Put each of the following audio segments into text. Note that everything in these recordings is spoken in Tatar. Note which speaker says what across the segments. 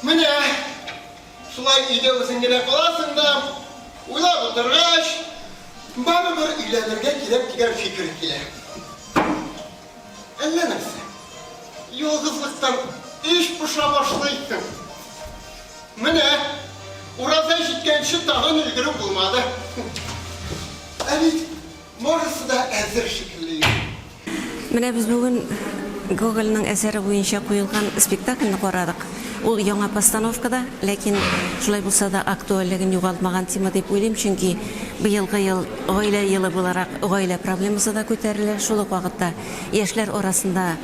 Speaker 1: Менә шулай өйдә үзең генә каласың да, уйлап утыргач, барыбер өйләнергә кирәк дигән фикер килә. Әллә нәрсә, ялгызлыктан эч поша башлый икән. Менә Ураза җиткәнче тагын өлгереп булмады. Ә бит Барысы да әзер шикелле инде. Менә
Speaker 2: без бүген Гогольнең әсәре буенча куелган спектакльне карадык. Ул яңа постановкада, ләкин шулай булса да актуальлеген югалтмаган тема дип уйлыйм, чөнки быелгы ел гаилә елы буларак гаилә проблемасы да күтәрелә, шул ук вакытта яшьләр арасында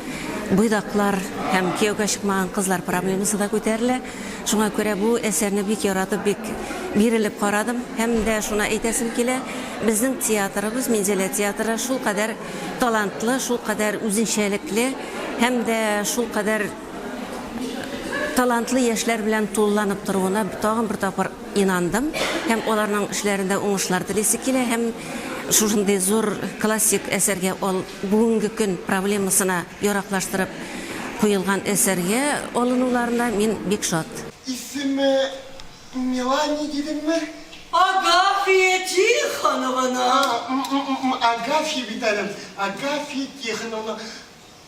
Speaker 2: буйдаклар һәм кияүгә чыкмаган кызлар проблемасы да күтәрелә. Шуңа күрә бу әсәрне бик яратып, бик бирелеп карадым. Һәм дә шуны әйтәсем килә, безнең театрыбыз, Минзәлә театры шулкадәр талантлы, шулкадәр үзенчәлекле һәм дә шулкадәр талантлы яшьләр белән тулыланып торуына тагын бер тапкыр инандым. Һәм аларның эшләрендә уңышлар телисе килә һәм шушындый зур классик әсәргә, бүгенге көн проблемасына Яраклаштырып куелган әсәргә алынуларына мин бик шат. Исеме
Speaker 1: Мелани дидеңме? Агафия
Speaker 3: Тихонована! М-м-м,
Speaker 1: Агафия бит әле ул. Агафия Тихоновна,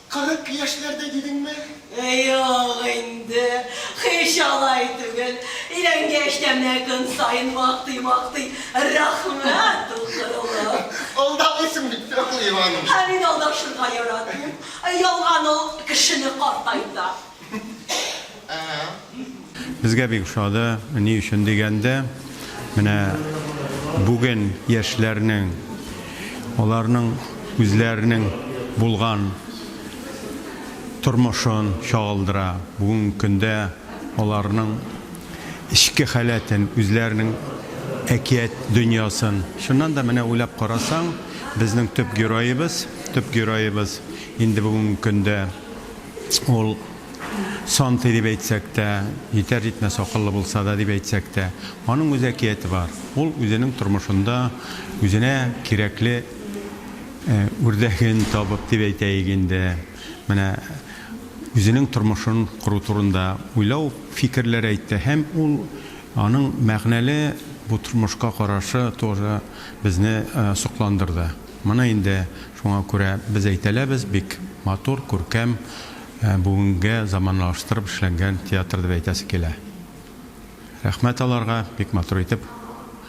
Speaker 1: кырык яшьләрдә дидеңме? Юк
Speaker 3: инде, һич алай түгел. Өйләнгәч тә менә көн саен мактый-мактый. Рәхмәт, дуслыгым.
Speaker 1: Алдамыйсың бит, Фәхри ханым. Ә мин алдашырга
Speaker 3: яратмыйм. Ялган ул кешене картайта.
Speaker 4: Безгә бик ошады, ни өчен дигәндә, менә бүген яшьләрнең, аларның үзләренең булган тормышын чагылдыра. Бүгенге көндә. аларның эчке халәтен, үзләренең әкият дөньясын. Чыннан да, менә уйлап карасаң, безнең төп героебыз, төп героебыз инде бүгенге көндә ул Сантый дип әйтсәк тә, җитәр-җитмәс акыллы булса да дип әйтсәк тә, аның үз әкияте бар. Ул үзенең тормышында үзенә кирәкле үрдәген табып дип әйтәек инде, менә үзенең тормышын кору турында уйлау, фикерләр әйтте һәм ул аның мәгънәле бу тормышка карашы тоже безне сокландырды. Моны инде шуңа күрә без әйтәләбез, бик матур, күркәм, бүгенгә заманлаштырып эшләнгән театр дип әйтәсе килә. Рәхмәт аларга, бик матур итеп